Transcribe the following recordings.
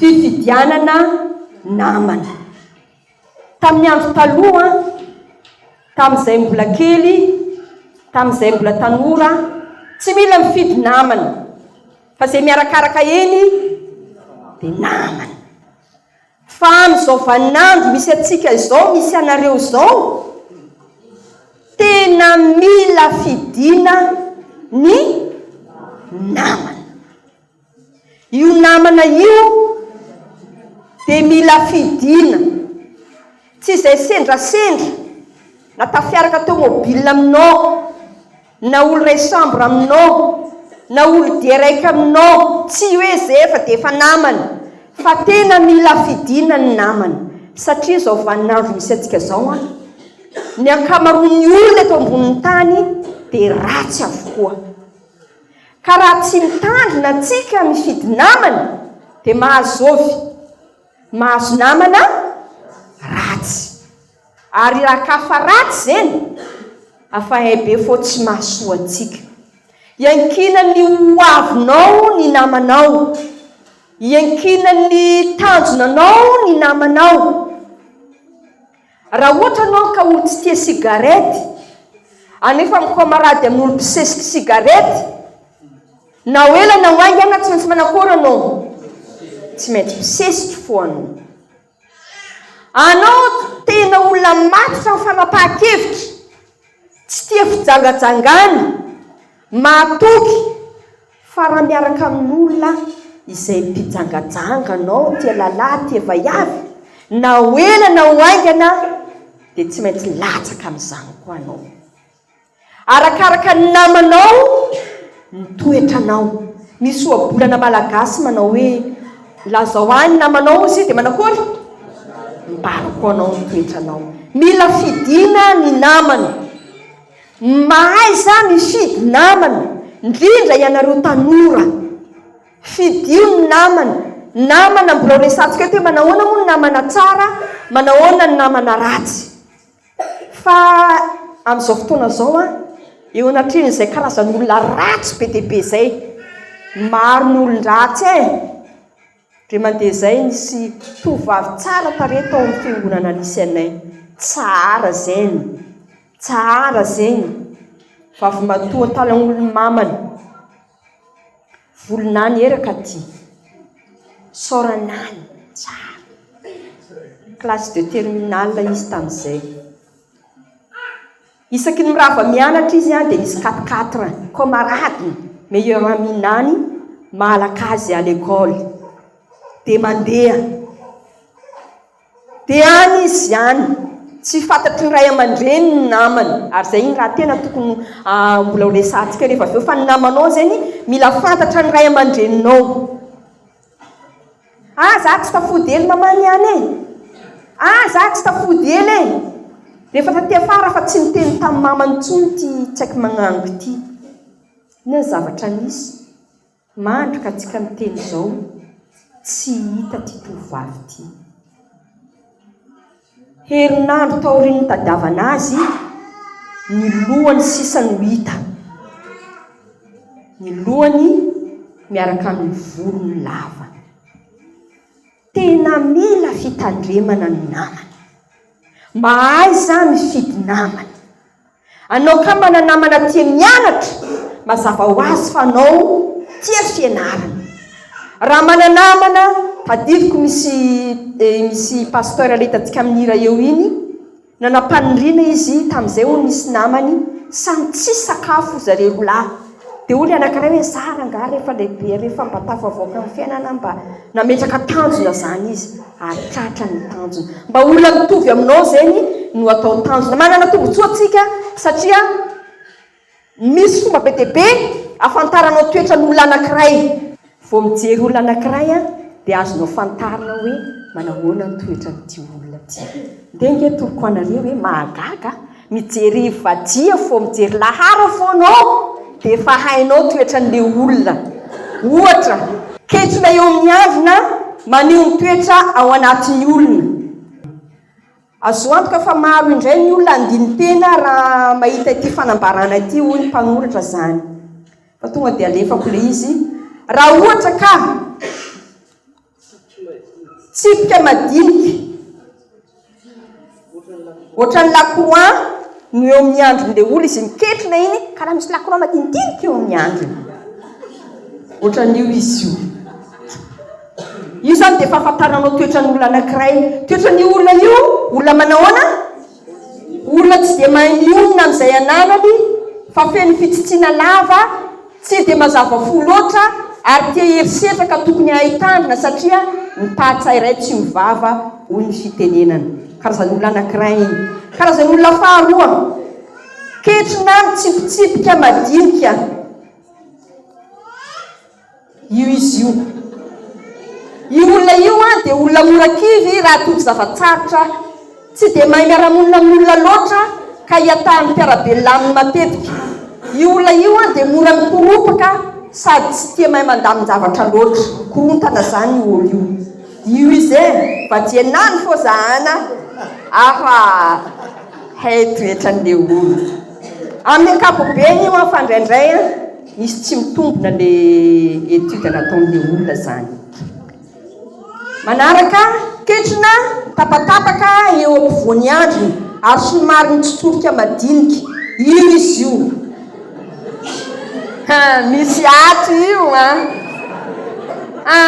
Fifidianana namana. Tamin'ny andro taloha, tamin'izay mbola kely, tamin'izay mbola tanora, tsy mila mifidy namana, fa izay miarakaraka eny dia namana. Fa amin'izao vaninandro misy antsika izao, misy anareo izao, tena mila fidiana ny namana. Io namana io dia mila fidiana. Tsy izay sendrasendra na tafiaraka tomobile aminao, na olo iray chambre aminao, na olo dia raiky aminao, tsy hoe izay efa dia efa namana. Fa tena mila fidiana ny namana. Satria izao vaninandro misy antsika izao an, ny ankamaroan'ny olona eto ambonin'ny tany dia ratsy avokoa. Ka raha tsy mitandrina antsika mifidy namana dia mahazo zovy, mahazo namana ratsy. Ary raha ka fa ratsy zeny afa hay be fô tsy mahasoa antsika. Iankinan ny ho avinao ny namanao, iankinan ny tanjonanao ny namanao. Raha ohatra ianao ka olo tsy tia sigarety, anefa mifamarady amin'olo mpisesiky sigarety, na ho ela na ho haingana tsy maintsy manakôry ianao? Tsy maintsy misesiky foana. Anao tena olona matotra amin'ny fanapahan-kevitra, tsy tia fijangajangana, mahatoky, Fa raha miaraka amin'olona izay mpijangajanga anao tia lalah tia vaiavy, na ho ela na ho haingana dia tsy maintsy latsaka amin'izany koa anao. Arakaraka ny namanao ny toetranao. Misy ohabolana malagasy manao hoe, lazao ahy ny namanao hozy izy dia manakory? Mibary koa anao ny toetranao. Mila fidina ny namana. Mahaiza mifidy namana ndrindra ianareo tanora. Fidio ny namana. Namana mbilao resatsika ety hoe manahoana moa ny namana tsara, manahoana ny namana ratsy. Fa amin'izao fotoana izao an, eo anatrehan'izay karazan'olona ratsy be dia be izay, maro ny olon-dratsy e. Dia mandeha izay nisy tovovavy tsara tarehy tao amin'ny fiangonana nisy anay. Tsara zegny. Tsara zegny. Vavimatoa talan'olo mamany. Volonany eraka ty. Saoranany. Tsara. Classe de terminale izy tamin'izay. Isaky ny mirava mianatra izy dia misy quatre quatre camarades meilleurs amis nany mahalaka azy à l'école dia mandeha dia any izy any tsy fantatry ny ray aman-dreniny ny namany ary izay iny raha tena tokony mbola ho resahantsika rehefa avy eo fa ny namanao zegny mila fantatra ny ray aman-dreninao Ah za tsy tafody ela maman ihany e! Ah za tsy tafody ela e! Rehefa taty afara fa tsy niteny tamin'i mama intsony ity tsy aiko magnango ity. Inona ny zavatra nisy? Mandry ka antsika miteny izao tsy hita ity tovovavy ity. Herinandro taorian'ny nitadiavana azy, ny lohany sisa no hita. Ny lohany miaraka amin'ny volony lava. Tena mila fitandremana ny namana. Mahaiza mifidy namana. Anao ka mana namana tia mianatra, mazava ho azy fa anao tia fianarana. Raha mana namana, tadidiko misy eh, misy pasteur ilay hitantsika amin'ny hira eo iny, nanam-paniriana izy tamin'izay hono nisy namany, samy tsy sakafo zareo roa lahy. Dia olona anankiray hoe zara angaha rehefa lehibe, rehefa mba tafavoaka amin'ny fiainana mba nametraka tanjona izany izy ary tratra ny tanjona. Mba olona mitovy aminao zegny no atao tanjona. Manana tombontsoa tsika satria misy fomba be dia be ahafantaranao toetran'olona anankiray. Vao mijery olona anankiray an, dia azonao fantarina hoe manahoana ny toetran'ity olona ity. Ndeha ange atoroko anareo hoe mahagaga, mijery vadia vao mijery lahara foana aho dia efa hainao toetran'ilay olona. Ohatra, kentrona eo amin'ny havona maneho ny toetra ao anatin'ny olona. Azo antoka fa maro indray ny olona handini-tena raha mahita ity fanambarana ity, hoy ny mpanoratra izany. Fa tonga dia alefako ilay izy. Raha ohatra ka tsipika madinika ohatran'ny lakroa no eo amin'ny andron'ilay olona izy miketrina iny ka raha misy lakroa madinidinika eo amin'ny androny ohatran'io izy io io zany dia fahafantaranao toetran'olona anankiray toetran'io olona io olona manahoana Olona tsy dia mahay mionona amin'izay ananany fa feno fitsitsiana lava, tsy dia mazava fo loatra ary tia herisetra ka tokony hahay tandrina satria ny taha tsairay tsy ho vava hoy ny fitenenana. Karazan'olona anankiray iny. Karazan'olona faharoa, ketrona mitsipitsipika madinika. Io izy io. Io olona io an, dia olona mora kivy raha toa zava-tsarotra. Tsy dia mahay miara-monina amin'olona loatra ka iatahan'ny mpiara-belona aminy matetika. Io olona io an, dia mora mikoropaka sady tsy tia mahay mandamin-javatra loatra. Korontana izany io olo io. Io izy e! Mba diana any fô za an a! Hafa hay toetran'le olo. Amin'ny ankapobeny io an, fa indraindray an. Misy tsy mitombina le étude nataonle olona zany. Manaraka, ketrina tapatapaka eo ampovoany andriny ary somary mitsotsorika madinika io izy io ha misy ato io a ha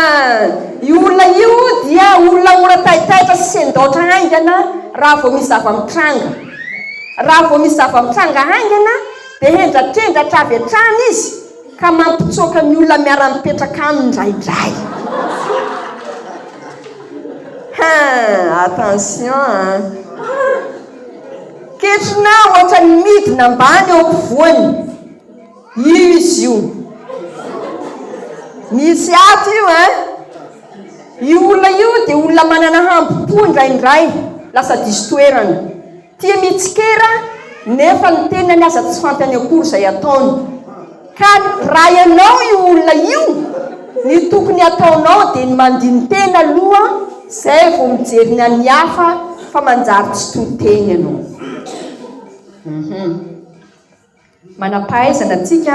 io olona io dia olona mora taitaitra sy sendaotra haingana raha vao misy zava-mitranga raha vao misy zava-mitranga haingana Dia hendrakendratra avy hatrany izy ka mampitsoaka ny olona miara-mipetraka aminy indraindray. Hein, attention an! Ketrona ohatran'ny midina ambany eo ampovoany izy io. Misy ato io an! Io olona io dia olona manana hambom-po indraindray, lasa diso toerana. Tia mitsikera nefa ny tenany aza tsy fantany akory izay ataony. Ka raha ianao io olona io, ny tokony ataonao dia ny mandini-tena aloha izay vao mijery ny an'ny hafa fa manjary tsy to teny ianao. Hum. Manam-pahaizana tsika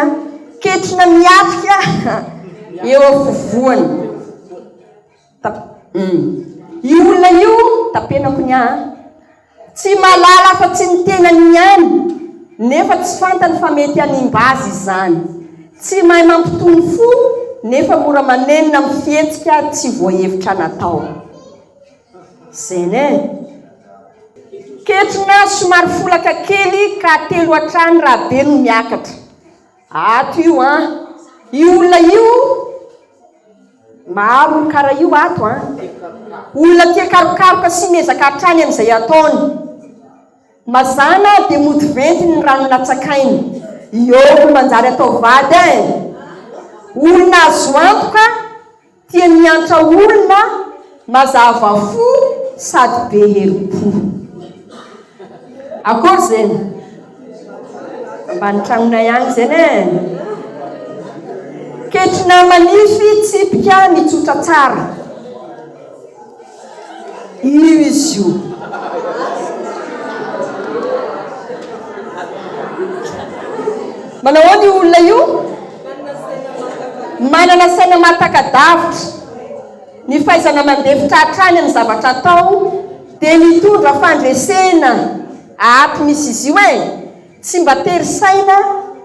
ketrina miatrika eo afovoany. Tap. Uhm. Io olona io tapenako ny ahy an! Tsy mahalala afa tsy ny tenany ihany nefa tsy fantany fa mety hanimba azy izany. Tsy mahay mampitony fo nefa mora manenina amin'ny fihetsika tsy voahevitra natao. Zen e! Ketrona somary folaka kely ka telo hatrany raha be no miakatra. Ato io an! Io olona io maro kara io ato an! Olona tia karokaroka sy miezaka hatrany amin'izay ataony. Mazàna dia mody ventiny ny rano natsakainy. Iôo no manjary atao vady eh! Olona azo antoka Tia miantra olona, mazava fo sady be herim-po. Akory zegny. Ambany tragnonay agny zegny e. Ketrina manify, tsipika, mitsotra tsara. Io izy io. Manao ahoana io olona io? Manana saina mahataka-davitra. Ny fahaizana mandefitra hatrany amin'ny zavatra atao dia mitondra fandresena ato misy izy io e! Tsy mba tery saina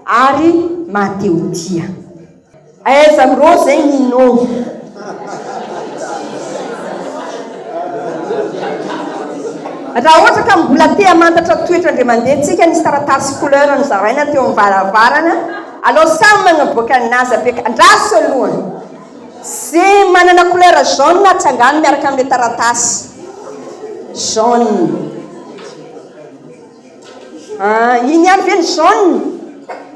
ary mahatehotia. Aiza bro zay Nino? Raha ohatra ka mbola te hamantatra toetra Andriamanidely tsika nisy taratasy couleur nozaraina teo am varavarana alao samy magnaboaka ny nazy apeaka andraso aloha ze manana couleur jaune atsangano miaraka amle taratasy jaune. Ah, iny ihany ve ny jaune?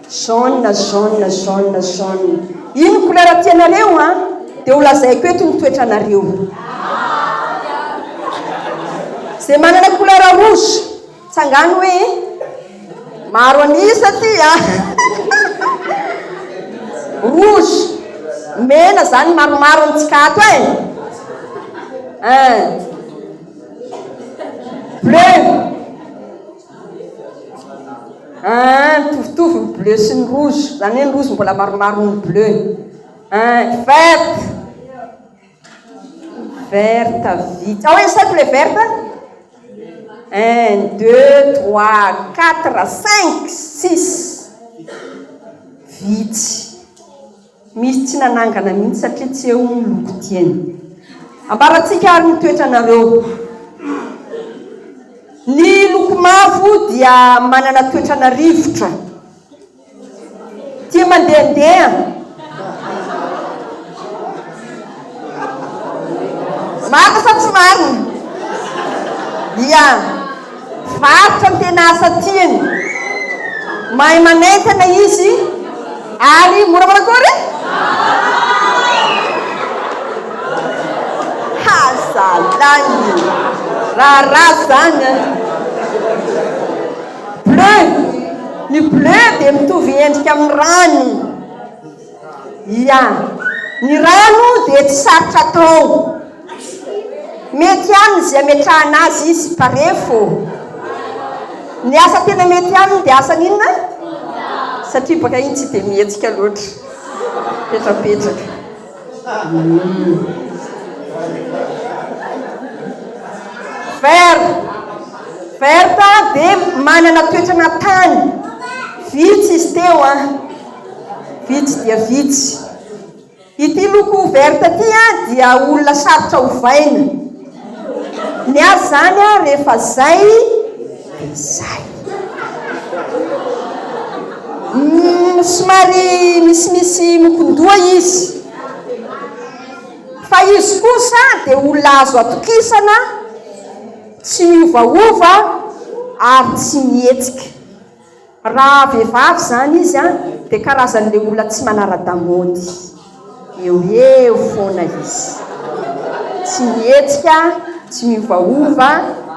Jaune, jaune, jaune, jaune. Iny ny couleur tianareo an? Dia ho lazaiko eto ny toetranareo. Izay manana couleur rouge, tsangano hoe maro an'isa ty a. Rouge, mena izany maromaro amintsika ato e. Eh. Bleu! Ahh mitovitovy ny bleu sy ny rouge, izany hoe ny rouge mbola maromaro ny bleu. Ahh vert! Vert vitsy, ao isaiko ilay vert a? Un, deux, trois, quatre, cinq, six, vitsy. Misy tsy nanangana mihitsy satria tsy eo ny loko tiany. Ambarantsika ary ny toetranareo. Ny loko mavo dia manana toetrana rivotra. Tia mandehandeha. Marina sa tsy marina? Ia, varotra ny tena asa tiany. Mahay manentana izy ary mora manakory? Haza lany! Raharaha izany an! Bleu, ny bleu dia mitovy endrika amin'ny rano. Ia. Ny rano dia tsy sarotra atao. Mety aminy izay ametrahana azy izy fa refo. Ny asa tena mety aminy dia asa n'inona? Satria baka iny tsy dia mihetsika loatra. Petrapetraka. Vert. Vert dia manana toetrana tany. Vitsy izy teo an. Vitsy dia vitsy. Ity loko verte ity dia olona sarotra ovaina. Ny azy izany rehefa zay dia zay. Mm, somary misimisy mokon-doha izy. Fa izy kosa dia olona azo atokisana, tsy miovaova ary tsy mihetsika. Raha vehivavy izany izy an, dia karazan'ilay olona tsy manara-damaody, eo ho eo foana izy, tsy mihetsika, tsy miovaova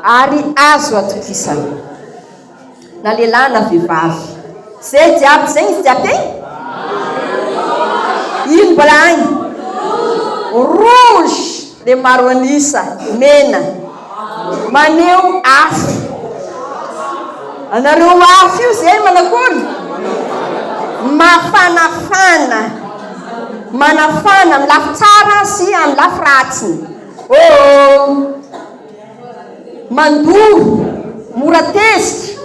ary azo atokisana. Na lehilahy na vehivavy. Izay jiaby izay izy jiaby e! Ino mbola any? Rouge! dia maro an'isa, mena, maneho afo. Anareo afo io izay manakory? Mafanafana, manafana amin'ny lafy tsara sy amin'ny lafy ratsiny. Oh, mandoa, mora tezitra.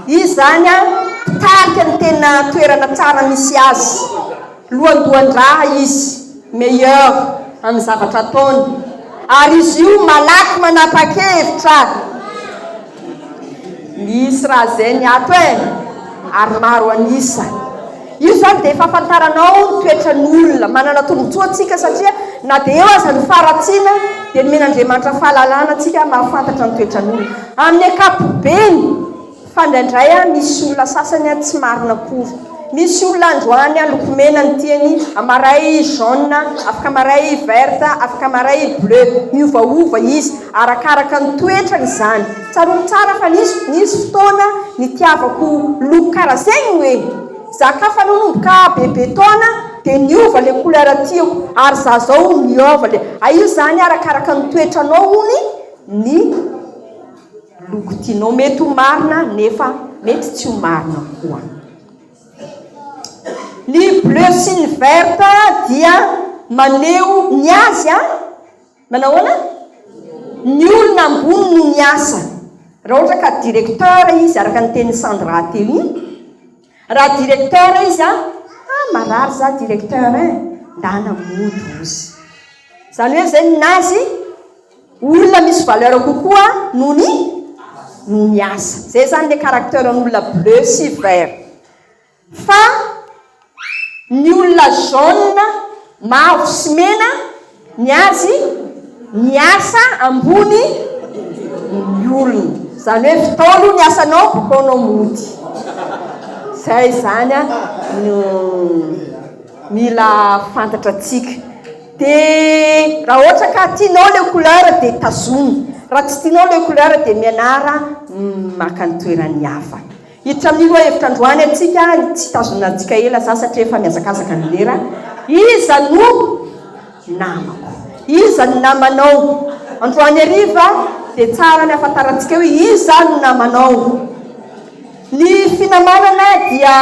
Izy izany an, mpitarika ny tena toerana tsara misy azy. Lohandohan-draha izy, meilleur, amin'ny zavatra ataony, ary izy io malaky manapa-kevitra. Misy raha izay ny ato e! ary maro an'isa. Io izany dia fahafantaranao ny toetran'olona. Manana tombontsoa antsika satria na dia eo aza ny faharatsiana dia nomen'Andriamanitra fahalalana antsika mahafantatra ny toetran'olona amin'ny ankapobeny. Fa indraindray a misy olona sasany a tsy marina akory. Misy olona androany a loko mena ny tiany, amaray jaune, afaka maray verte, afaka maray bleu. Miovaova izy, arakaraka ny toetrany izany. Tsaroako tsara fa nisy nisy fotoana nitiavako loko karaha zegny hoe e! Za ka fa nanomboka bebe taona dia niova le couleur tiako ary za zao miôva le, a io zany arakaraka ny toetranao hono ny. loko tianao mety ho marina nefa mety tsy ho marina koa ny bleu sy ny vert dia maneho ny azy a manao ahoana ny olona ambony no miasa raha ohatra ka directeur izy araka ny tenin'i Sandra teo iny Raha directeur izy a! ah marary za directeur eh! ndana mody ozy! zany hoe zay ninazy olona misy valeur kokoa noho ny noho ny asa! zay zany le caracteur n'olona bleu sy vert! fa ny olona jaune, mavo sy mena Ny azy, ny asa ambony ny olona. Zany hoe vitao aloha ny asanao bakao anao mody. Zay zany no mila fantatra tsika. De raha ohatra ka tianao le couleur de tazomy. Raha tsy tianao le couleur de mianara maka ny toeran'ny hafa. Hiditra amin'ny lohahevitra androany antsika ary tsy hitazona antsika ela za satria efa mihazakazaka ny lera. Iza no namako? Iza no namanao? Androany hariva dia tsara ny hahafantarantsika hoe iza no namanao. Ny finamanana dia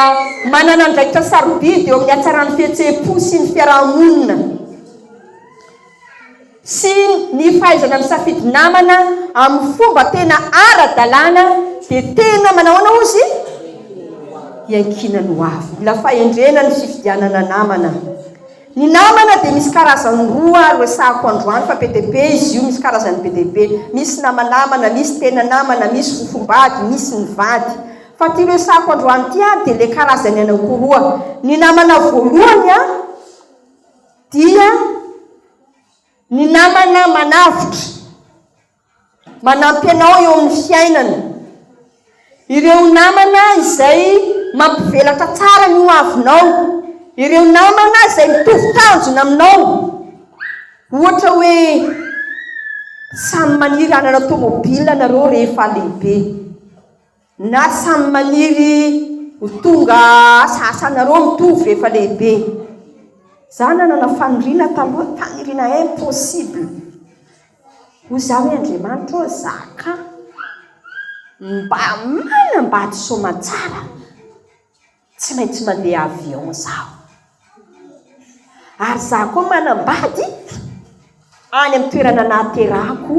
manana andraikitra sarobidy eo amin'ny hatsaran'ny fihetseham-po sy ny fiaraha-monina. sy ny fahaizana misafidy namana amin'ny fomba tena ara-dalàna dia tena manahoana hoy izy? Iankinan'ny ho avy. Mila fahendrena ny fifidianana namana. Ny namana dia misy karazany roa ary resahako androany fa be dia be izy io, misy karazany be dia be. Misy namanamana, misy tena namana, misy fofombady, misy ny vady. Fa ity resahako androany ity ary dia ilay karazany anakiroa. Ny namana voalohany an! dia ny namana manavotra, manampy anao eo amin'ny fiainana, ireo namana izay mampivelatra tsara ny hoavinao, ireo namana izay mitovy tanjona aminao, ohatra hoe samy maniry hanana tômôbila nareo rehefa lehibe. Na samy maniry ho tonga asa asanareo mitovy rehefa lehibe. Za nanana faniriana taloha tany irina impossible. Hoy za hoe Andriamanitra ô za ka mba manambady soamantsara. Tsy maintsy mandeha avion zaho. Ary zaho koa manambady any amin'ny toerana nahaterahako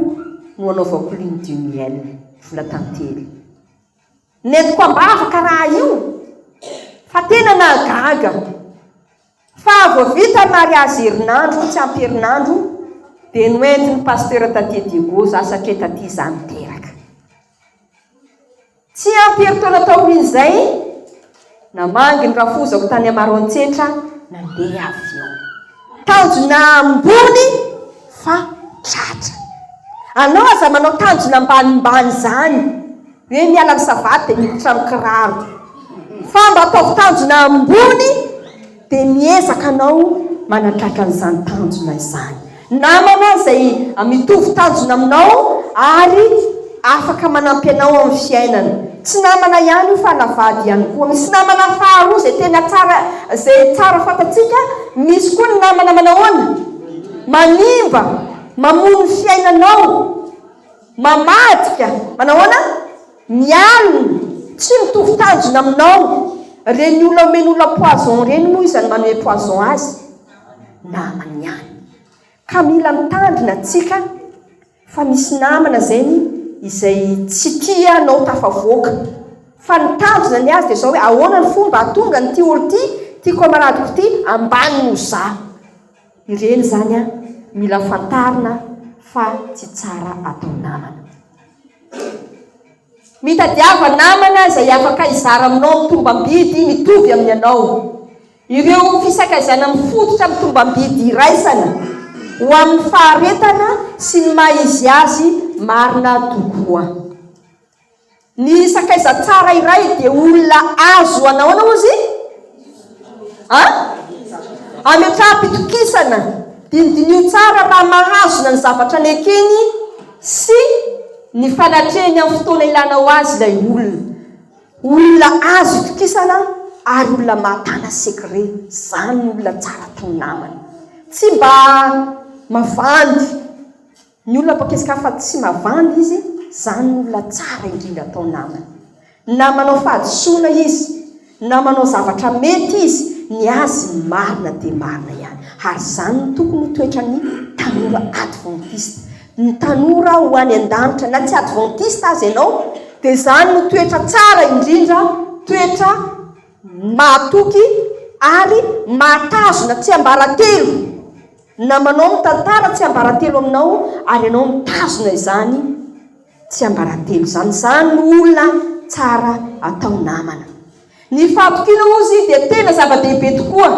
no anaovako lune du miel, vola tantely. Nentiko am-bavaka raha io fa tena nahagaga fa vao vita ny mariazy herinandro tsy ampy herinandro dia noentin'ny pasteur taty Diego za satria taty za niteraka. Tsy ampy herintaona taorian'izay, namangy ny rafozako tany Amarantsetra nandeha avy eo. Tanjona ambony fa tratra. Anao aza manao tanjona ambanimbany izany, hoe miala amin'ny savaty dia miditra amin'ny kiraro. Fa mba ataovy tanjona ambony. Dia miezaka anao manatratra an'izany tanjona izany. Namana izay mitovy tanjona aminao ary afaka manampy anao amin'ny fiainana. Tsy namana ihany io fa na vady ihany koa. Misy namana faharoa izay tena tsara, izay tsara fantatsika. Misy koa ny namana manahoana? Manimba, mamono ny fiainanao, mamadika. Manahoana? Ny aliny tsy mitovy tanjona aminao. Reny olona omeny olona poison reny moa iza no manome poison azy? Namany ihany. Ka mila mitandrina tsika fa misy namana zegny izay tsy tia anao tafavoaka. Fa ny tanjona ny azy dia zao hoe ahoana ny fomba ahatonga ny ty olo ty, ty kamaradiko ty ambany noho zah. Ireny zany an mila fantarina fa tsy tsara atao namana. Mitadiava namana izay afaka hizara aminao ny tombam-bidy mitovy amin'ny anao. Ireo fisakajana mifototra amin'ny tombam-bidy iraisana ho amin'ny faharetana sy ny maha izy azy marina tokoa. Ny sakaiza tsara iray dia olona azo anaoana ozy? A. Ametraham-pitokisana, Dinidinia tsara raha mahazona ny zavatra nekeny sy ny fanatrehany amin'ny fotoana ilana ho azy ilay olona. Olona azo itokisana ary olona mahatana secret, izany no olona tsara atao namana. Tsy mba mavandy. Ny olona pokeska fa tsy mavandy izy, zany no olona tsara indrindra atao namana. Na manao fahadisoana izy, na manao zavatra mety izy, ny azy marina dia marina ihany. Ary zany no tokony ho toetran'ny tanora adventiste. Ny tanora ho any an-danitra, na tsy adventiste aza ianao, dia zany no toetra tsara indrindra, toetra mahatoky ary mahatazona tsiambaratelo. Namanao ny tantara tsiambaratelo aminao ary ianao mitazona izany tsiambaratelo izany. Izany no olona tsara atao namana. Ny fahatokiana hozy dia tena zava-dehibe tokoa.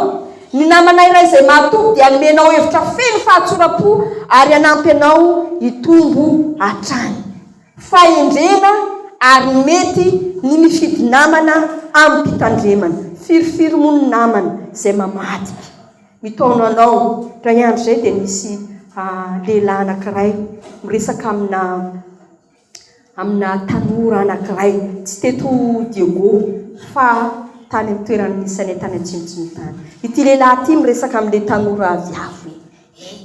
Ny namana iray izay mahatoky dia hanome anao hevitra feno fahatsoram-po ary hanampy anao hitombo hatrany. Fahendrena ary mety ny mifidy namana amim-pitandremana. Firifiry moa ny namana izay mamadika? Mitaona anao, indray andro izay dia misy lehilahy anankiray miresaka amina amina tanora anankiray, tsy teto Diego fa tany amin'ny toeran'ny Nisanay tany Atsimotsimo tany. Ity lehilahy ity miresaka amin'ilay tanora viavy hoe eh,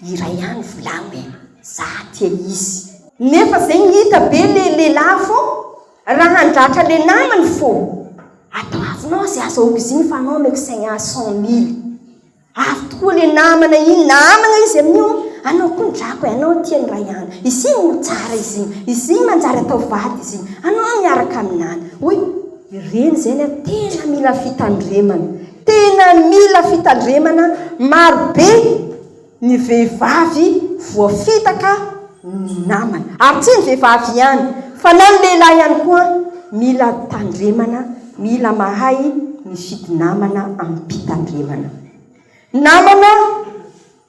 Iray ihany volagno e! Za tia izy. Nefa zay ngita be le lehilahy fô raha handratra le namany fô atao avy non ze aza ok zigny fa non meko saigny ahy cent mille avy tokoa le namana igny na amagna izy amin'io anao koa ny drako e anao tia ny ray an izy igny no tsara izy igny izy igny manjary atao vady izy igny anao miaraka aminany oy ireny zegny an tena mila fitandremana Tena mila fitandremana maro be ny vehivavy voafitaka ny namany. Ary tsy ny vehivavy ihany fa na ny lehilahy ihany koa mila tandremana, mila mahay mifidy namana amim-pitandremana. Namana.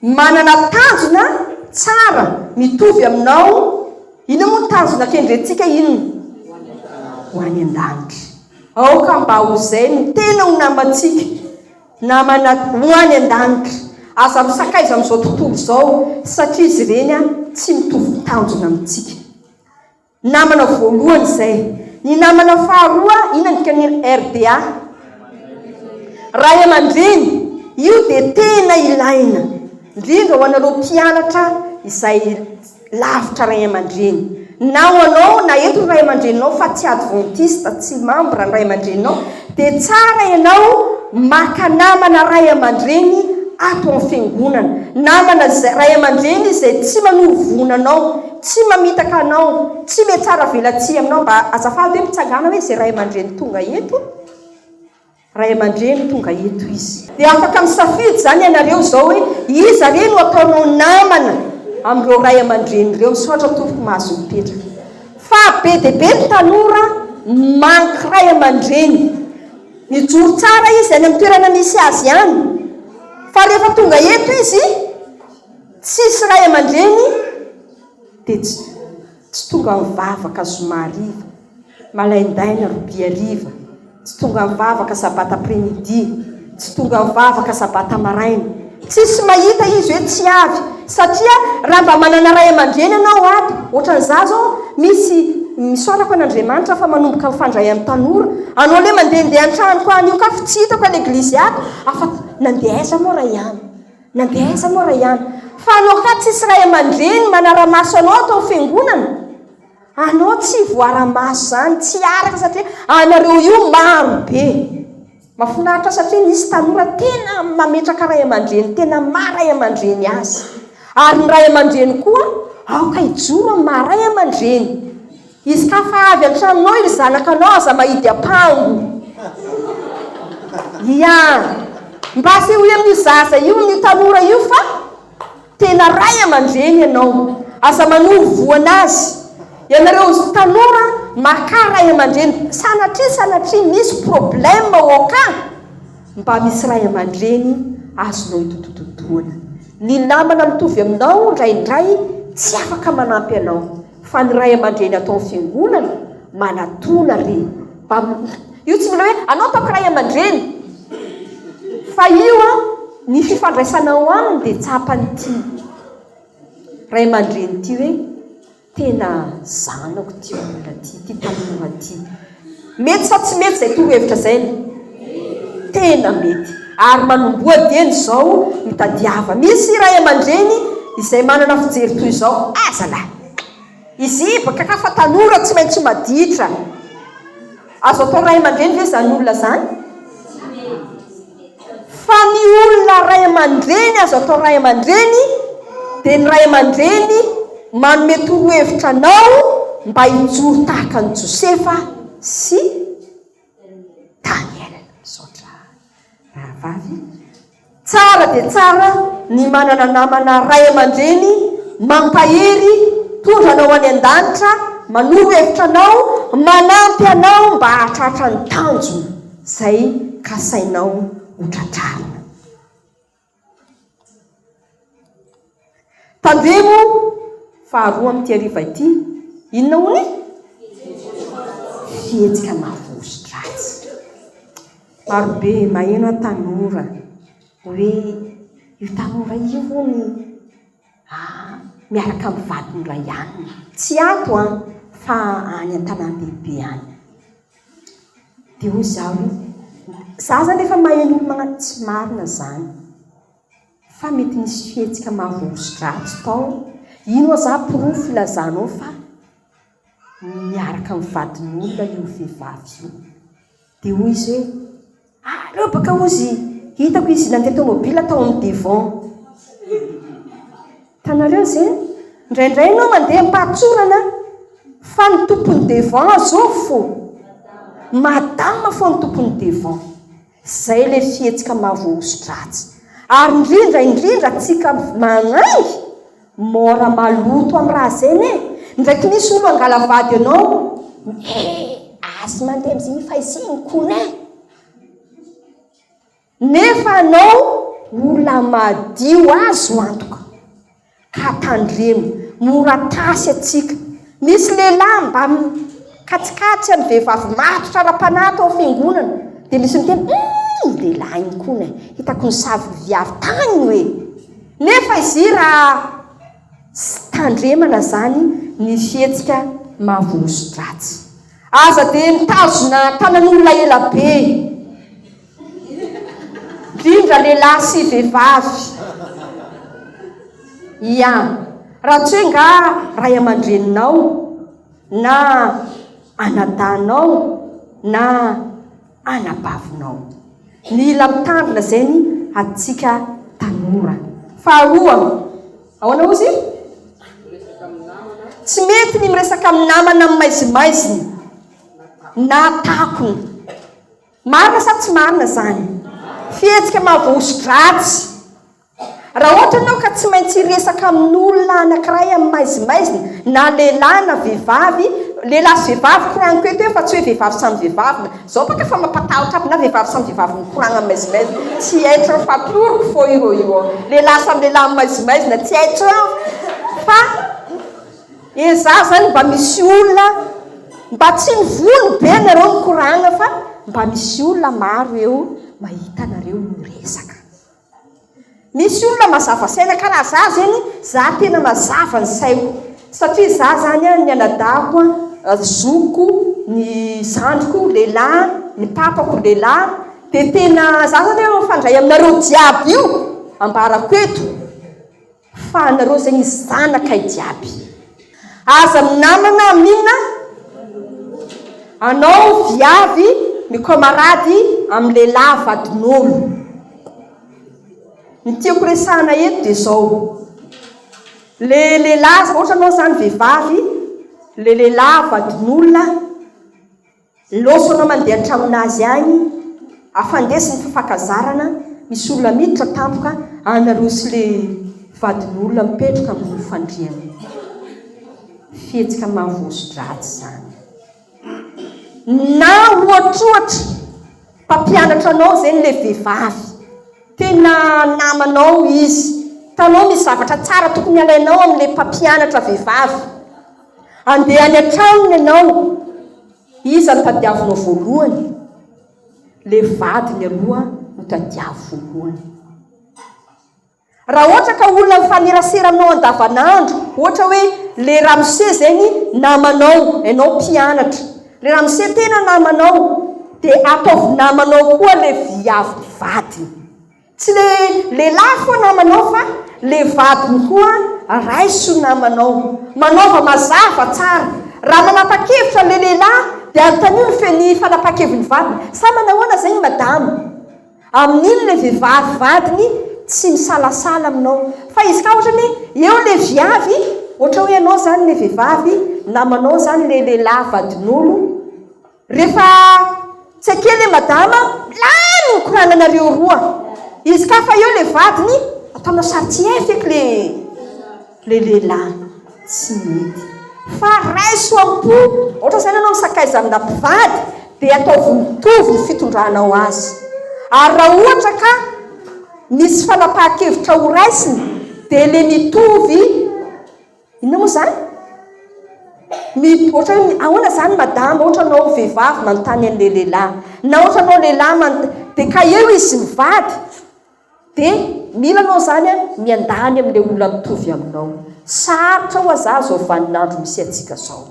Manana tanjona tsara mitovy aminao Inona moa ny tanjona kendrentsika inona? Ho any an-danitra Aoka mba ho izay no tena ho namantsika Namana ho any an-danitra Aza misakaiza amin'izao tontolo izao Satria izy ireny tsy mitovy tanjona amintsika Namana voalohany izay. Ny namana faharoa inona ny dikan'ny RDA? Ray aman-dreny. Io dia tena ilaina, indrindra ho anareo mpianatra izay lavitra ray aman-dreny. Na ho anao, na eto ny ray aman-dreninao fa tsy adventiste, tsy membre ny ray aman-dreninao, dia tsara ianao maka namana ray aman-dreny ato amin'ny fiangonana. Namana izay, ray aman-dreny izay tsy manoro voina anao. Tsy mamitaka anao, tsy me tsara velatsihy aminao mba azafady hoe mpitsangana hoe izay ray aman-dreny tonga eto, ray aman-dreny tonga eto izy. Dia afaka misafidy izany ianareo izao hoe iza re no ataonao namana amin'ireo ray aman-dreny ireo. Misaotra tompoko mahazo mipetraka. Fa be dia be ny tanora mank ray aman-dreny. Mijoro tsara izy any amin'ny toerana misy azy any, fa rehefa tonga eto izy, Tsisy ray aman-dreny dia tsy tsy tonga mivavaka zoma hariva, malaindaina robia hariva, tsy tonga mivavaka sabata après midi, tsy tonga mivavaka sabata maraina. Tsisy mahita izy hoe tsy avy satria raha mba manana ray aman-dreny ianao ato, ohatran'izaho izao misy misaorako an'Andriamanitra fa manomboka mifandray amin'ny tanora, anao le mandehandeha an-tranoko any io ka tsy hitako an'eglizy ato, afa-tsy nandeha aiza moa ray an! Nandeha aiza moa Ryan? Fa anao hafa tsisy ray aman-dreny manara-maso anao ato amin'ny fiangonana? Anao tsy voara-maso izany, tsy araka satria anareo io maro be. Mafinaritra satria misy tanora tena mametraka ray aman-dreny tena maha ray aman-dreny azy. Ary ny ray aman-dreny koa aoka hijoro amin'ny maha ray aman-dreny. Izy ka fa avy an-tranonao ilay zanakanao aza mahidy ampango. Ia. Mba asehoy amin'io zaza io amin'io tanora io fa tena ray aman-dreny ianao. Aza manoro voan azy. Ianareo tanora makà ray aman-dreny. Sanatria sanatria misy problème ao ka mba misy ray aman-dreny azonao itotototoana. Ny namana mitovy aminao indraindray tsy afaka manampy anao. Fa ny ray amandreny ato am fiangonana manatona ry mba io tsy mila hoe anao ataoko ray amandreny fa io an ny fifandraisana ao aminy dia tsapan'ity ray amandreny ity hoe tena zanako ity olona ity ity tanora ity Mety sa tsy mety izay torohevitra izay ny? Tena mety. Ary manomboha dieny izao ny tadiava. Misy ray aman-dreny izay manana fijery toy izao, Aza lah! Izy baka ka fa tanora tsy maintsy ho maditra. Azo atao ray aman-dreny ve izany olona izany? Fa ny olona ray aman-dreny azo atao ray aman-dreny dia ny ray aman-dreny manome torohevitra anao mba hijoro tahaka an'i Josefa sy Daniela. Misaotra rahavavy. Tsara dia tsara ny manana namana ray aman-dreny mampahery, mpitondra anao any an-danitra, manoro hevitra anao, manampy anao mba hahatratra ny tanjona. izay kasainao ho tratrarina. Tandremo faharoa amin'ity hariva ity, inona hono e? Fihetsika mavozon-dratsy. Marobe maheno an tanora hoe io tanora io hono ah, miaraka amin'ny vadiny iray alina. Tsy ato an, fa any an-tanàn-dehibe any. Dia hoy izaho hoe, izaho izany efa maheno olona manan-, tsy marina izany fa mety nisy fihetsika maha-vondron-dratsy tao, ino aza porofo ilazanao fa niaraka amin'ny vadin'olona io vehivavy io? Dia hoy izy hoe. Aleo baka ozy hitako izy nandeha tomobila tao amin'ny devant. Tanareo ze? Ndraindray ianao mandeha am-pahatsorana fa ny tompon'ny devant azo fo. Madame fo ny tompon'ny devant. Zay le fihetsika maha voahoso-dratsy. Ary indrindra indrindra tsika manangy Mora maloto am raha zegny e! Ndraiky misy olo angala vady anao e! Azy mandeha amzigny fa izigny kony e! Nefa anao ola madio azo antoka ka tandremo mora tasy atsika misy lehilahy mba mikatsikatsy am vehivavy matotra ara-panahy tao fiangonana de misy miteny hum! Lehilahy igny kony e! Hitako nisavy viavy tagny io e! Nefa izy i raha tsy tandremana zany ny fihetsika mahavolon-sotratsy. Aza dia mitazona tanan'olona ela be e! Indrindra lehilahy sy vehivavy. Ia. Raha tsy hoe nga ray aman-dreninao na anadahinao na. anabavinao. Mila mitandrina izay ny antsika tanora. Faharoa, ahoana hozy? Tsy mety ny miresaka amin'ny namana amin'ny maizimaiziny na takony. Marina sa tsy marina izany? Fihetsika mahavoahoso-dratsy. Raha ohatra ianao ka tsy maintsy hiresaka amin'olona anankiray amin'ny maizimaizina, na lehilahy na vehivavy, lehilahy sy vehivavy, koragniko eto eo fa tsy hoe vehivavy samy vehivavy, na, izao baka efa mampatahotra aby na vehivavy samy vehivavy mikoragna amin'ny maizimaizina, tsy être fa toro-ko foa io rô io an! lehilahy samy lehilahy amin'ny maizimaizina, tsy être an! fa ezaho izany mba misy olona, mba tsy mivono be nareo mikoragna fa mba misy olona maro eo mahita anareo miresaka. Misy olona mazava saina ka raha za zany za tena mazava ny saiko satria za zany ny anadahiko ny zokiko ny zandriko lehilahy ny papako lehilahy dia tena za zany mifandray aminareo jiaby io ambarako eto Fa anareo izay ny zanakay jiaby. Aza minamana amina anao viavy mikomarady amin'ny lehilahy vadin'olo. Ny tiako resahana eto dia izao. Le lehilahy, ohatra anao izany vehivavy, le lehilahy vadin'olona, Lôsona mandeha an-tranon' azy ahy afandesy ny fifankazarana misy olona miditra tampoka any aloha sy le vadin' olona mipetroka ambony fandriana. Fihetsika mahavoaso-dratsy zany. Na ohatrohatra mpampianatra anao zeny le vevavy, tena namanao izy, hitanao misy zavatra tsara tokony alainao amle mpampianatra vevavy, Andeha any an-tranony ianao, iza no tadiavinao voalohany? Le vadiny aloha no tadiavo voalohany. Raha ohatra ka olona mifanerasera aminao andavanandro, ohatra hoe le ramose zegny namanao, ianao mpianatra, le ramose tena namanao, dia ataovy namanao koa le viavy vadiny. Tsy le lehilahy foa namanao fa le vadiny koa raiso namanao. Manaova mazava tsara. Raha manapa-kevitra le lehilahy dia anontanio ny fe ny fanapa-kevin'ny vadiny. Sa manahoana zegny madama? Amin'iny le vehivavy vadiny tsy misalasala aminao. Fa izy ka ohatra ny eo le viavy, ohatra hoe ianao zany le vehivavy, namanao zany le lehilahy vadin'olo, Refa tsy ake le madama lany ny korananareo roa izy ka fa eo le vadiny ataonao sary tsy hay feky le le lehilahy tsy mety fa raiso ampo ohatra zany anao misakaiza amina mpivady de ataovy mitovy ny fitondranao azy ary raha ohatra ka misy fanapahan-kevitra ho raisina de le mitovy Inona moa izany? Mi, ohatra hoe ahoana izany madama, ohatra anao vehivavy manontany an'ilay lehilahy, na ohatra anao lehilahy manot, dia ka eo izy mivady, dia mila anao izany a, miandany amin'ilay olona mitovy aminao. Sarotra ho'aza izao vanin'andro misy antsika izao.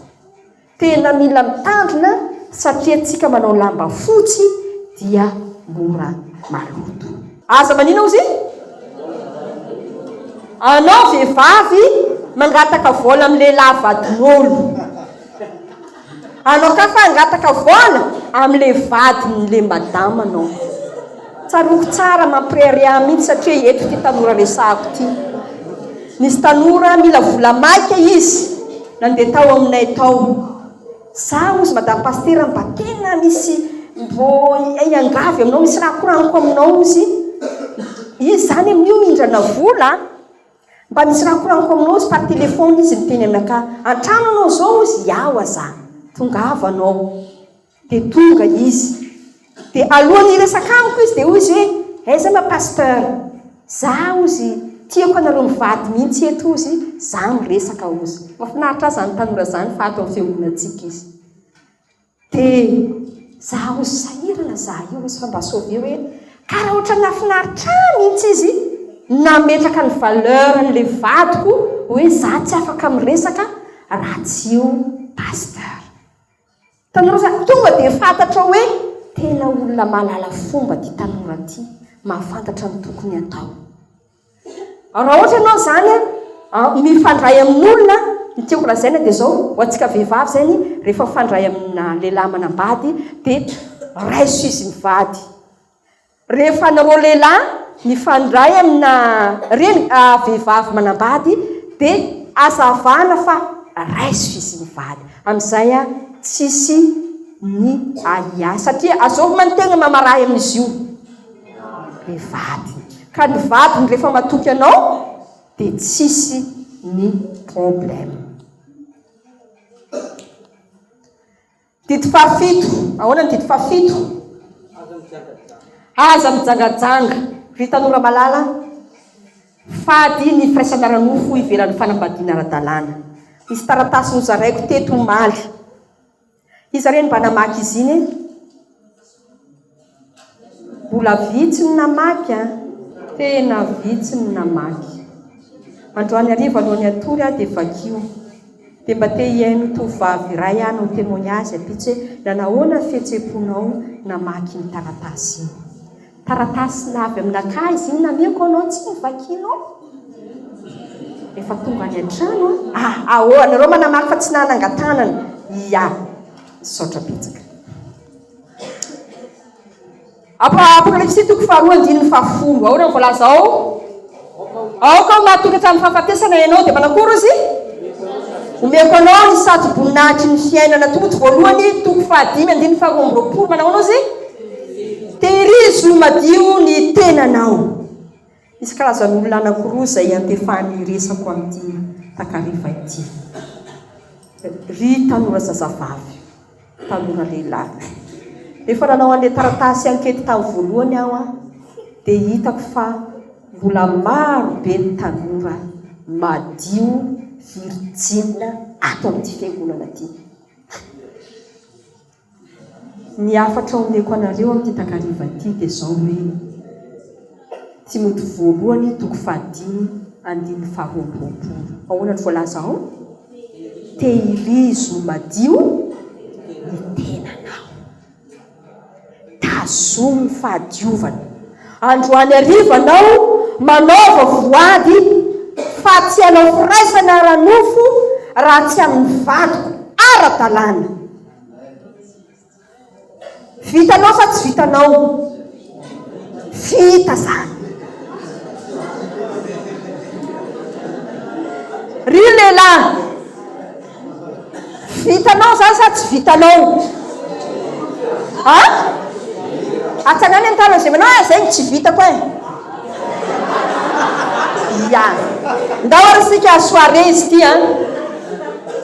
Tena mila mitandrina satria tsika manao lamba fotsy dia mora maloto. Aza manina ozy anao vehivavy mangataka vola amin'ny lehilahy vadin'olo. Anao ka fa hangataka vola amin'ny le vadin'le madama anao. Tsaroako tsara mampirehareha ahy mihitsy satria eto ity tanora resahako ity. Nisy tanora mila vola maika izy nandeha tao aminay tao. Za ozy madame pasitera mba tena misy mbô iangavy aminao misy raha koragniko aminao ozy izy zany amin'io mindrana vola a! mba misy raha koragniko aminao ozy par téléphone izy niteny aminakahy an-trano anao zao ozy iaho aza tongava anao. Dia tonga izy. Dia alohan'ny hiresaka amiko izy dia hoy izy hoe, aiza ma pasteur? Za hozy tiako anareo mivady mihitsy eto hozy, za miresaka hozy. Mafinaritra ahy zany tanora zany fa ato amin'ny fiangonantsika izy. Dia za hozy sahirana za io hozy fa mba sauver hoe ka raha ohatran'ny nafinaritra ahy mihitsy izy nametraka ny valeur an'le vadiko hoe za tsy afaka miresaka raha tsy io pasteur. Tanora zany tonga dia fantatra hoe tena olona mahalala fomba ity tanora ity, mahafantatra ny tokony atao. Raha ohatra ianao izany mifandray amin'olona, ny tiako lazaina dia izao, ho antsika vehivavy izany, rehefa mifandray amina lehilahy manambady dia raiso izy mivady. Rehefa anareo lehilahy mifandray amina reny vehivavy manambady dia azavana fa raiso izy mivady amin'izay tsisy ny ahiahy satria azovina ny tegna mamarahy amin'izy io le vadiny ka ny vadiny rehefa matoky anao dia tsisy ny problème. Didy fahafito, ahoana ny didy fahafito? Aza mijangajanga, ry tanora malala, fady ny firaisana ara-nofo ivelan'ny fanambadiana ara-dalàna. Misy taratasy nozaraiko teto omaly. Iza re no mba namaky izy iny e? Mbola vitsy ny namaky an! Tena vitsy ny namaky. Androany hariva alohan'ny hatory aho dia vakio. Dia mba te hihaino tovovavy iray hanao témoignage ampitso hoe nanahoana ny fihetseham-ponao namaky iny taratasy iny. Taratasy avy aminakahy izy iny nameko anao tsy novakianao. Efa tonga any an-trano aho. A! Aoa! Nareo manamaky fa tsy nanangan-tanana. Ia! Misaotra betsaka. Apokalypsy toko faharoa andininy fahafolo. Aoka ny voalaza ao. Aoka ho mahatonga tamin'ny fahafatesana ianao dia manakory izy. Omeko anao ny satroboninahitry ny fiainana. Timoty voalohany toko fahadimy andininy faharoa amby roapolo. Manao anao izy. Tehirizo madio ny tenanao. Misy karazan'olona anankiroa izay iantefan'ny resako amin'ity takariva ity. Ry tanora zazavavy, tanora lehilahy. Rehefa nanao an'ilay taratasy ankety tamin'ny voalohany aho an, dia hitako fa mbola maro be ny tanora madio, virjinina ato amin'ity fiangonana ity. Ny hafatra omeko anareo amin'ity takariva ity dia izao hoe, Timoty voalohany toko fahadimy andininy faharoa amby roapolo. Ahoana no voalaza ao? Tehirizo madio ny tenanao. Tazomy ny fahadiovana. Androany hariva anao manaova voady fa tsy hanao firaisana ara-nofo raha tsy amin'ny vadiko ara-dalàna. Vitanao sa tsy vitanao? Vita zany. Ry lehilahy, vitanao zany sa tsy vitanao? Ah? Atsanany ny tanany izay manao ah, zay no tsy vitako eh. Ia. Ndao ary isika soirée izy ity an!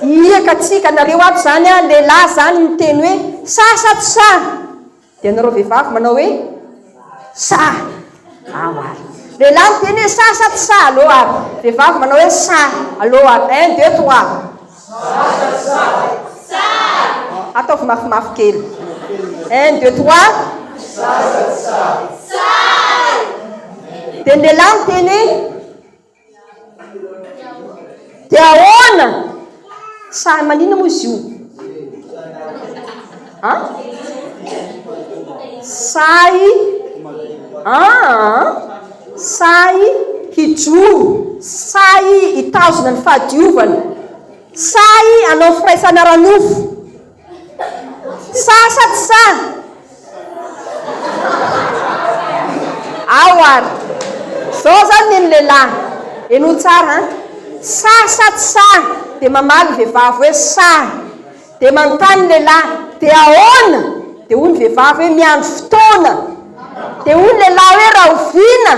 Hihiaka atsika nareo ato izany an! Lehilahy izany miteny hoe sa sa tsy sa! Dia nareo vehivavy manao hoe sa! Ao ary! Lehilahy miteny hoe sa sa tsy sa! Allo ary! Vehivavy manao hoe sa! Allo ary! Un, deux, trois! Zaza tsara. Tsara. Ataovy mafimafy kely. Un, deux, trois. Zaza tsara. Tsara. Teny lehilahy ny teny. Dia ahoana? Sahy manina moa izy io. An? Sahy an? Sahy hijoro, sahy hitazona ny fahadiovana, sahy hanao firaisana ara-nofo. Sahy sa tsy sahy? Ao ary. Zao zany ny ny lehilahy. Henoy tsara an. Sahy sa tsy sahy? Dia mamaly ny vehivavy hoe sahy. Dia manontany ny lehilahy, dia ahoana? Dia hoy ny vehivavy hoe miandry fotoana. Dia hoy ny lehilahy hoe rahoviana?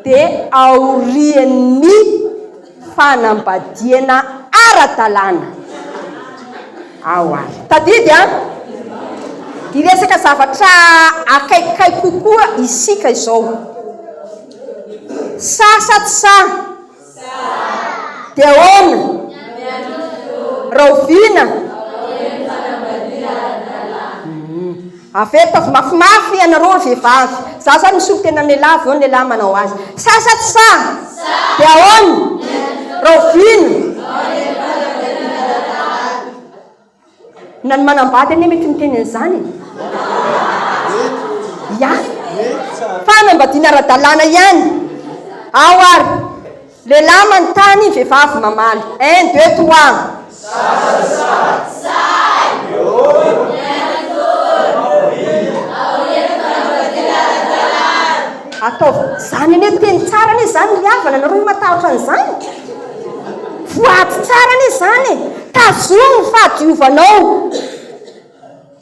Dia aorian'ny fanambadiana ara-dalàna. Ao ary. Tadidy an! Hiresaka zavatra akaikikaiky kokoa isika izao. Sahy sa tsy sahy? Dia ahoana? Rahoviana? Hum. Avy eto avy mafimafy ianareo vehivavy. Za zany misolo tena ny lehilahy avy eo ny lehilahy manao azy. Sahy sa tsy sahy? Dia ahoana? Rahoviana? Na ny manambady anie mety miteny an'izany e! Ya! Fa hanambadiana ara-dalàna ihany ao ary lehilahy manontany vehivavy mamaly. Un, deux, trois. Ataovy izany anie teny tsara anie izany ry havana, nareo ve matahotra an'izany? Voady tsara anie izany e! Tazomy ny fahadiovanao!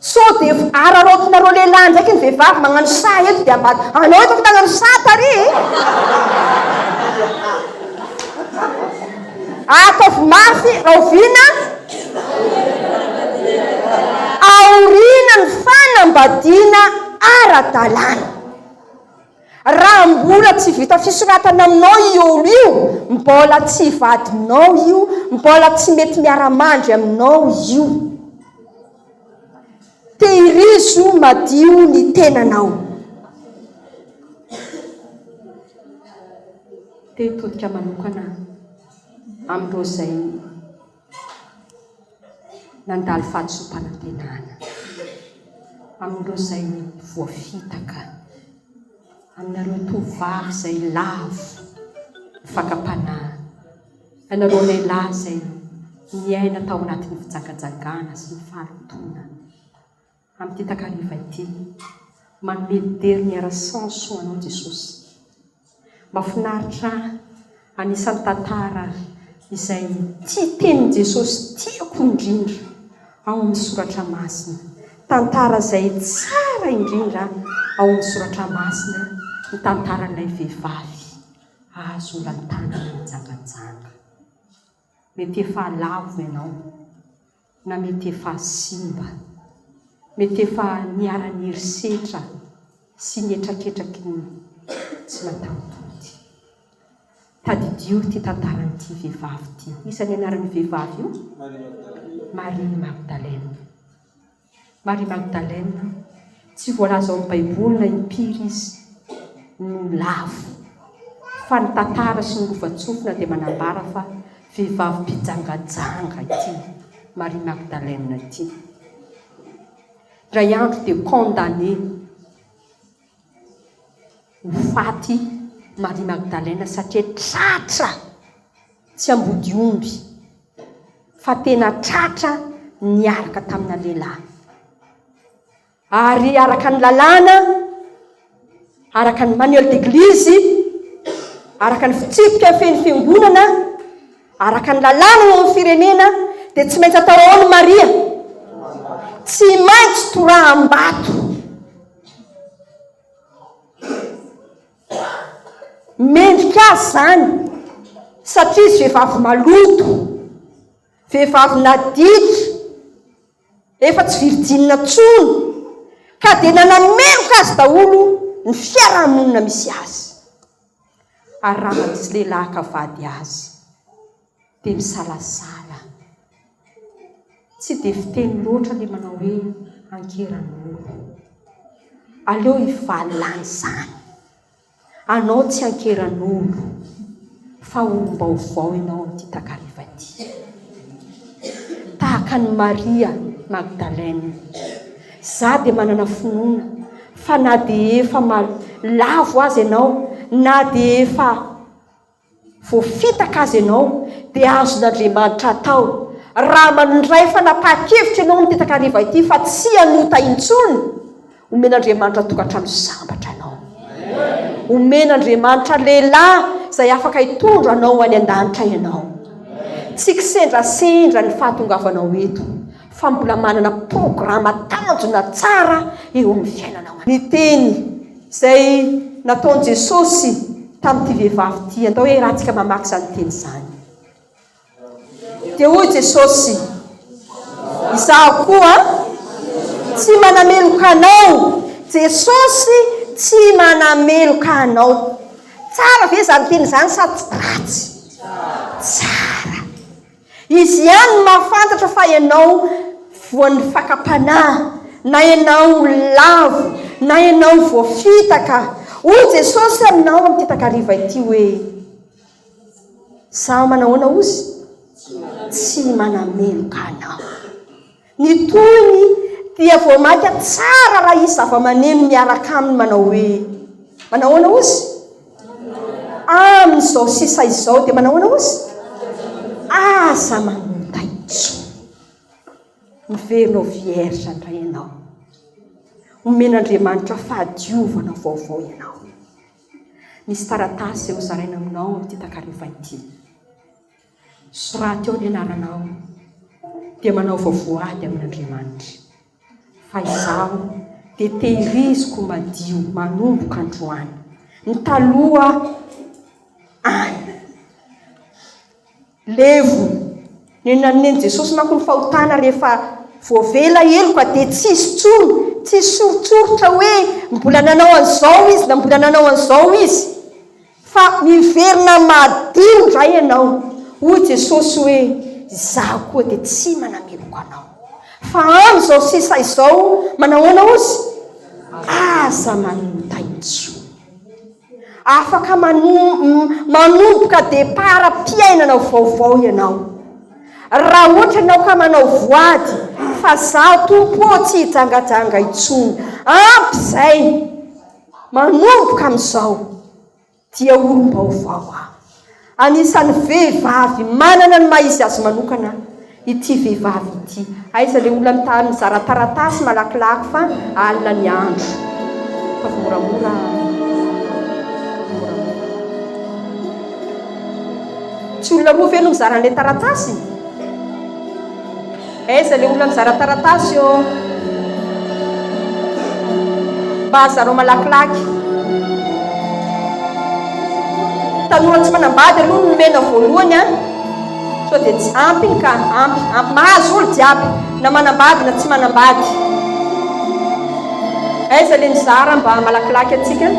Sao dia araraotinareo lehilahy indraiky ny vehivavy magnano saha eto dia ambady anao eto afaka hagnano saha tary e! Ataovy mafy rahoviana aoriana ny fanambadiana ara-dalàna. Raha mbola tsy vita fisoratana aminao io olo io, mbola tsy vadinao io, mbola tsy mety miara-mandry aminao io. Tehirizo madio ny tenanao. Te hitodika manokana amin'ireo izay Nandalo fahadisoam-panantenana amin'ireo izay voafitaka, aminareo tovovavy izay lavo ny fakam-panahy, ianareo lehilahy izay niaina tao anatin'ny fijangajangana sy ny fahalotoana. Amin'ity takariva ity, manome dera miara sans ho anao Jesosy. Mafinaritra ahy, anisan'ny tantara izay tia tenin'i Jesosy tiako indrindra ao amin'ny soratra masina. Tantara izay tsara indrindra ao amin'ny soratra masina ny tantaran'ilay vehivavy azo olantanana mijanganjanga. Mety efa lavo ianao. Na mety efa simba. Mety efa niharan'ny herisetra sy ny hetraketraky ny tsy mataho-tody. Tadidio ity tantaran'ity vehivavy ity. Iza ny anaran'io vehivavy io? Maria Magdalena. Maria Magdalena, tsy voalaza ao amin'ny Baiboly na impiry izy no lavo, fa ny tantara sy ny lovantsofina dia manambara fa vehivavy mpijangajanga ity Maria Magdalena ity. Indray andro dia condamné. ho faty Maria Magdalena satria tratra tsy ambody omby fa tena tratra niaraka tamina lehilahy ary araka ny lalàna araka ny manuel d'eglizy araka ny fitsipika feno fiangonana araka ny lalàna eo amin'ny firenena dia tsy maintsy atao ao ny Maria tsy maintsy toraham-bato Mendrika azy izany satria izy vehivavy maloto, vehivavy nadika, efa tsy virjinina intsony, ka dia nanameloka azy daholo ny fiarahamonina misy azy. Arahany sy lehilahy ka vady azy. dia misalasala. Tsy dia fiteny loatra ilay manao hoe ankeran'omby. Aleo hivalona an'izany. Anao tsy ankeran'omby fa olom-baovao ianao amin'ity takariva ity. Tahaka an'i Maria Magdalena. Za dia manana finoana fa na dia efa lavo aza ianao, na dia efa voafitaka aza ianao dia azon'Andriamanitra atao raha mandray fanapahan-kevitra ianao amin'ity takariva ity fa tsy hanota intsony, omen'Andriamanitra tokantrano sambatra anao, omen'Andriamanitra lehilahy izay afaka hitondra anao ho any an-danitra ianao. Tsy kisendrasendra ny fahatongavanao eto fa mbola manana programa tanjona tsara eo amin'ny fiainanao. Ny teny Izay nataon'i Jesosy tamin'ity vehivavy ity. Andao hiarahantsika mamaky izany teny izany. Dia hoy Jesosy, izaho koa tsy manameloka anao. Jesosy tsy manameloka anao. Tsara ve izany teny izany sa ratsy? Tsara. Izy ihany no mahafantatra fa ianao voan'ny fakam-panahy, na ianao lavo, na ianao voafitaka. Hoy Jesosy aminao amin'ity takariva ity hoe, Izaho manahoana hozy? Tsy manameloka anao. Ny tohiny dia voamaika tsara raha hisy zavamaneno miaraka aminy manao hoe Manahoana ozy? Amin'izao sisa izao dia manahoana ozy? Aza manota intsony. Miverina ho vierge indray ianao. Omen'Andriamanitra fahadiovana vaovao ianao. Misy taratasy hozaraina aminao amin'ity takareva ity. Soraty ao ny anaranao, dia manaova voady amin'Andriamanitra. Fa izaho dia tehiriziko madio manomboka androany. Ny taloha any. Levo. Ny nanen'i Jesosy manko ny fahotana rehefa voavela heloka dia tsy hisy intsony, tsy hisy soritsoritra hoe mbola nanao an'izao izy na mbola nanao an'izao izy. Fa miverina madio indray ianao. Hoy Jesosy hoe, Izaho koa dia tsy manameloka anao. Fa amin'izao sisa izao, manahoana ozy? Aza manota intsony. Afaka manomboka deparam-piainana vaovao ianao. Raha ohatra ianao ka manao voady, fa izaho Tompo ô, tsy hijangajanga intsony. Ampy izay. Manomboka amin'izao dia olom-baovao aho. Anisan'ny vehivavy manana ny maha izy azy manokana ity vehivavy ity. Aiza ilay olona mitady mizara taratasy malakilaky fa alina ny andro. Ataovy moramora. Tsy olona roa ve no mizara an'ilay taratasy? Aiza le olona mizara taratasy ô? Mba zarao malakilaky. Tanora tsy manambady aloha no nomena voalohany a! Sao dia tsy ampy iny ka! Ampy, ampy mahazo olo jiaby na manambady na tsy manambady. Aiza le mizara mba malakilaky antsika?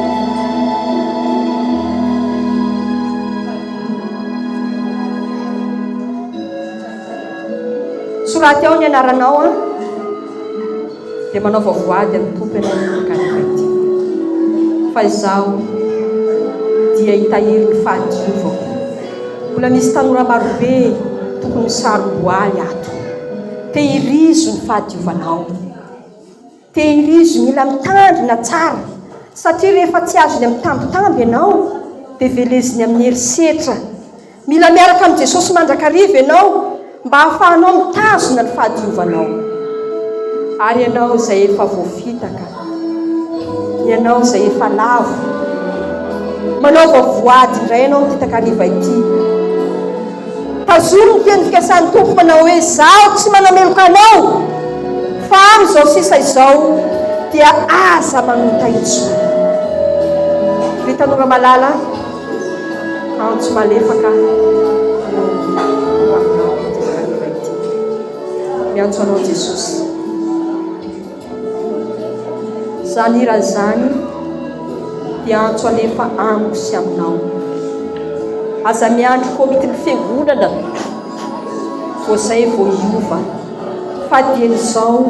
Soraty ao ny anaranao an. Dia manaova voady amin'ny Tompo ianao ny Galileity. Fa izaho dia hitahiry ny fahadiovako. Mbola misy tanora marobe tokony sarom-boaly ato. Tehirizo ny fahadiovanao. Tehirizo, mila mitandrina tsara satria rehefa tsy azony amin'ny tambitamby ianao dia veleziny amin'ny herisetra. Mila miaraka amin'i Jesosy mandrakariva ianao mba hahafahanao mitazona ny fahadiovanao. Ary ianao izay efa voafitaka, ianao izay efa lavo, manaova voady indray ianao amin'ity takariva ity. Tazomy ny teny fikasan'ny Tompo manao hoe, Izaho tsy manameloka anao, fa amin'izao sisa izao dia aza manota intsony. Ry tanora malala, antso malefaka no ho aminao ity tanora ity. Miantso anao Jesosy. Izany hira izany dia antso anefa amiko sy aminao. Aza miandry komitin'ny fiangonana vao izay vao hiova. Fa dieny izao,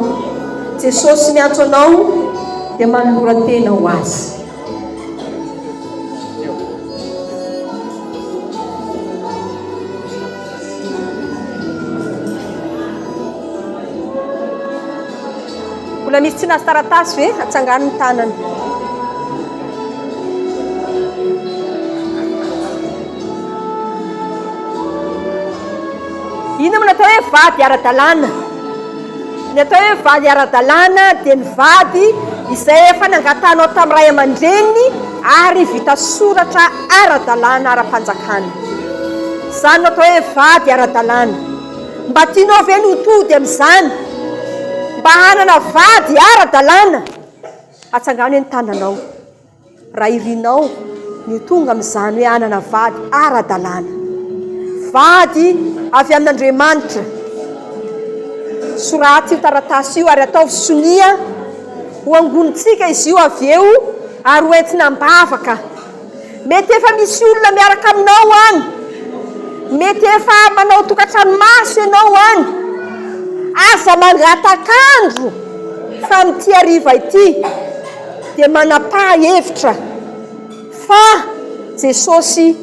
Jesosy miantso anao dia manolora tena ho azy. Mbola misy tsy nahazo taratasy ve? Atsangano ny tanana. Inona no atao hoe vady ara-dalàna? Ny atao hoe vady ara-dalàna dia ny vady izay efa nangatanao tamin'ny ray aman-dreniny ary vita soratra ara-dalàna ara-panjakana. Izany no atao hoe vady ara-dalàna. Mba tianao ve ny ho tody amin'izany? Mba hanana vady ara-dalàna? Atsangano eny tananao raha irinao ny ho tonga amin'izany hoe hanana vady ara-dalàna. Vady avy amin'Andriamanitra. Soraty io taratasy io ary ataovy sonia ho angonintsika izy io avy eo ary ho entina am-bavaka. Mety efa misy olona miaraka aminao any. Mety efa manao tokantrano maso ianao any. Aza mangatak'andro fa amin'ity hariva ity dia manam-paha-hevitra fa Jesosy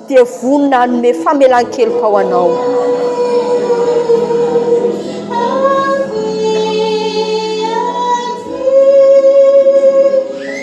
dia vonona hanome famelan-keloka ho anao.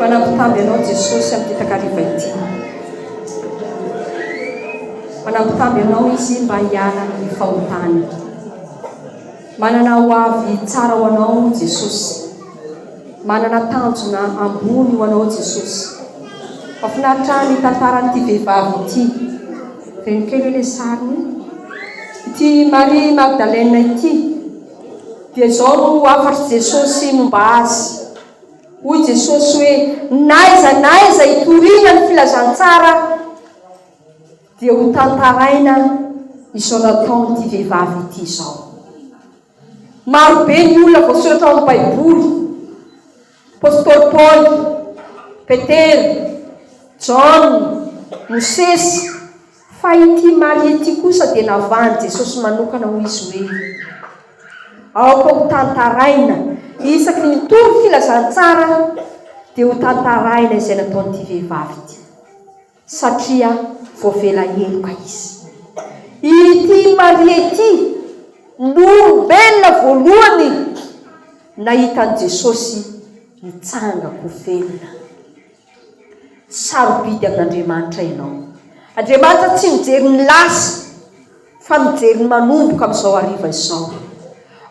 Manampitavy anao Jesosy amin'ity takariva ity. Manampitavy anao izy mba hiala amin'ny fahotany. Manana ho avy tsara ho anao Jesosy. Manana tanjona ambony ho anao Jesosy. Fa finaritra ny tantaran'ity vehivavy ity. Reny kely hoe le sariny. Ity Marie Magdalene ity. Dia zao no hafatry Jesosy momba azy. Hoy Jesosy hoe naiza naiza itoriana ny filazantsara Dia ho tantaraina izao nataon'ity vehivavy ity izao. Maro be ny olona voasoratra ao amin'ny Baiboly. Apostoly Paoly, Petera, Jaona, Mosesy. Fa ity Maria ity kosa dia navahan'i Jesosy manokana hoy izy hoe, Aoka ho tantaraina isaky ny mitovy filazantsara dia ho tantaraina izay nataon'ity vehivavy ity. satria voavela heloka izy. Ity Maria ity no olombelona voalohany nahita an'i Jesosy nitsanga ho velona. Sarobidy amin'Andriamanitra ianao. Andriamanitra tsy mijery ny lasa fa mijery ny manomboka amin'izao hariva izao.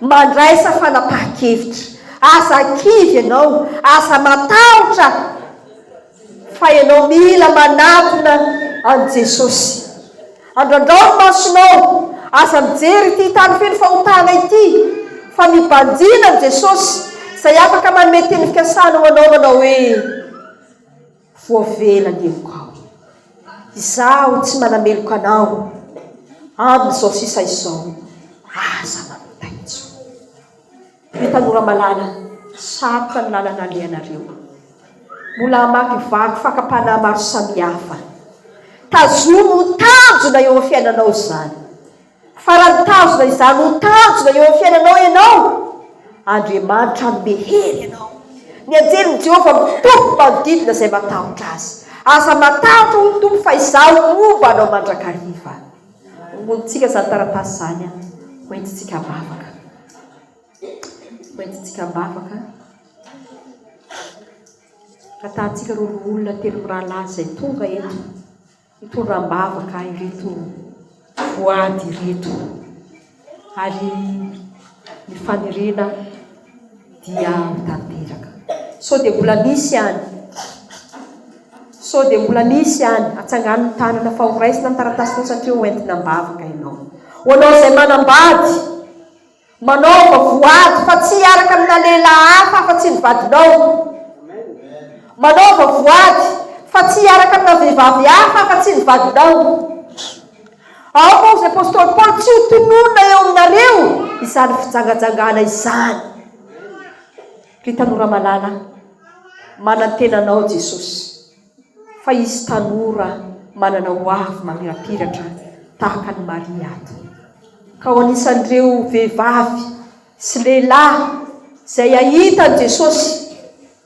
Mandraisa fanapahan-kevitra. Aza kivy ianao, aza matahotra. Fa ianao mila manatona an'i Jesosy. Andrandrao ny masonao, aza mijery ity tany feno fahotana ity, fa mibanjina an'i Jesosy, izay afaka manome teny fikasana ho anao manao hoe, Voavela ny heloka ao. Izaho tsy manameloka anao amin'izao sisa izao, aza manontany intsony. Ry tanora malala, sarotra ny lalana alehanareo. Mbola hamakivaky fakam-panahy maro samihafa. Tazomy ho tanjona eo amin'ny fiainanao izany. Fa raha nitazona izany ho tanjona eo amin'ny fiainanao ianao, Andriamanitra hanome hery anao. Ny anjelin'i Jehovah mitoby manodidina izay matahotra azy. Aza matahotra, hoy ny Tompo, fa Izaho homba anao mandrakariva. Hoentintsika izany taratasy izany, hoentintsika am-bavaka. Hoentintsika am-bavaka. Hatahantsika ireo loholona telo mirahalahy izay tonga eto, hitondra am-bavaka ireto voady ireto. Ary ny faniriana dia ho tanteraka. Sao dia mbola misy any? Sao dia mbola misy any? Atsangano ny tanana fa ho raisina ny taratasy fotsy satria ho entina am-bavaka ianao. Ho anao izay manambady, manaova voady fa tsy hiaraka amina lehilahy hafa afa-tsy ny vadinao. Manaova voady fa tsy hiaraka amina vehivavy hafa afa-tsy ny vadinao. Ao moa ry apostoly Paoly tsy ho tononina eo aminareo izany fijangajangana izany. Ry tanora malala, manantena anao Jesosy fa hisy tanora manana ho avy mamirapiratra tahaka ny Maria ato. Ka ho anisan'ireo vehivavy sy lehilahy izay hahita an'i Jesosy